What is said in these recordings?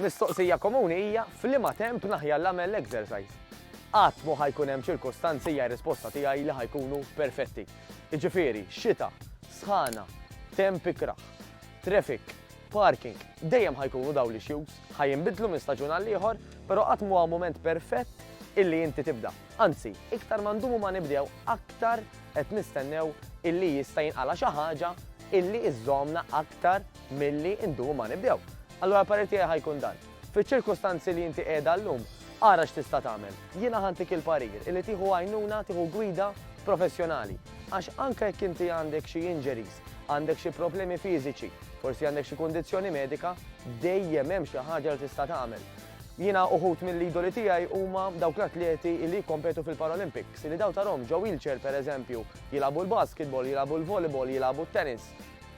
mistoqsija komuni hija f'liema temp naħjar l-għamel l-exercise. Qatt mu ħajkun hemm ċirkostanzi hija risposta tiegħi li ħajkunu perfetti. Iġifieri, xita, sħana, temp ikraħ. traffic, parking, dejjem ħa jkunu dawn l-issues. Ħa jinbidlu minn staġun għal ieħor, però qatt m'huwa mument perfett illi inti tibda. Anzi, iktar ma ndumu ma nibdew, aktar qed nistennew illi jista' jinqala' xi ħaġa illi iżżommna aktar milli ndumu ma nibdew. Allura l-parir tiegħi ħa jkun dan. Fiċ-ċirkustanzi li inti qiegħda llum, ara x'tista' tagħmel. Jiena ħantik il-parir illi tieħu għajnuna, tieħu gwida professjonali. Għax anke jekk inti għandek xi injuries, Għandek xi problemi fiżiċi, forsi għandek xi kundizzjoni medika, dejjem hemm xi ħaġa li tista' tagħmel. Jiena uħud mill-idoli tiegħi huma dawk l-atleti li jikkompetu fil-Paralympics, li daw tarhom ġo wheelchair pereżempju, jilagħbu l-basketball, jilagħbu l-volleyball, jilagħbu t-tennis.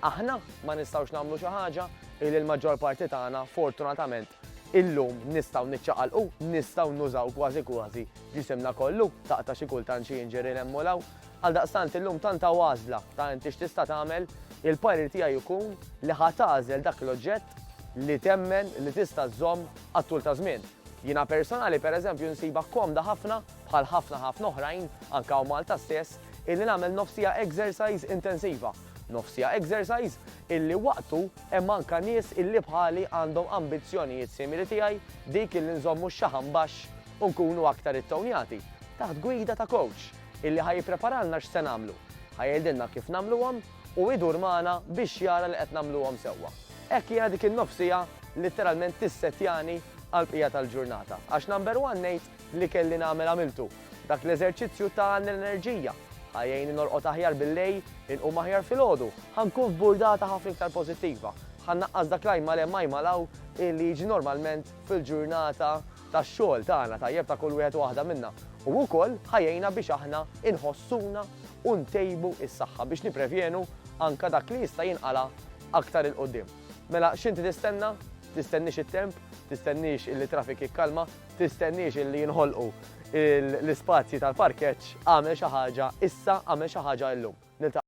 Aħna ma nistgħux nagħmlu xi ħaġa? Illi l-maġġor parti tagħna, fortunatament, illum nistgħu niċċaqalqu, nistgħu nużaw kważi kważi ġisimna kollu, taqta' xi kultant xi injury hemm u 'l hawn. Għaldaqstant illum tant hawn għażla ta' inti x'tista' tagħmel, il-parir tiegħi jkun li ħa tagħżel dak l-oġġett li temmen li tista' żżomm għat-tul ta' żmien. Jiena personali pereżempju nsibha komda ħafna, bħal ħafna ħafna oħrajn, anke hawn Malta stess, illi nagħmel nofsija exercise intensiva. Nofsija exercise illi waqtu hemm anke nies illi bħali għandhom ambizzjonijiet simili tiegħi, dik illi nżommu x-xaħam baxx u nkunu aktar ittownjati, taħt gwida ta' coach. illi ħa jippreparalna x'se nagħmlu, ħa jgħidilna kif nagħmluhom u jdur magħna biex jara li qed nagħmluhom sewwa. Hekk jiena dik in-nofsija litteralment tissettjani għall-bqija tal-ġurnata għax number one ngħid li kelli nagħmel għamiltu, dak l-eżerċizzju ta' l-enerġija, ħa jgħinni norqod aħjar billejl, inqum aħjar filgħodu, ħa nkun f'burdata ħafna iktar pożittiva, ħa nnaqqas dak l-ajma l hemm ajma l hawn illi jiġi normalment fil-ġurnata tax-xogħol tagħna tajjeb ta' kull wieħed u waħda minna u wkoll ħa jgħinna biex aħna inħossuna u ntejbu s-saħħa biex nipprevjenu anke dak li jista' jinqala' aktar 'il quddiem. Mela x'inti tistenna? Tistenniex it-temp? Tistenniex illi t-traffic jikkalma? Tistenniex illi jinħolqu l-ispazji tal-parkeġġ? Agħmel xi ħaġa issa, agħmel xi ħaġa illum. Niltaqgħu.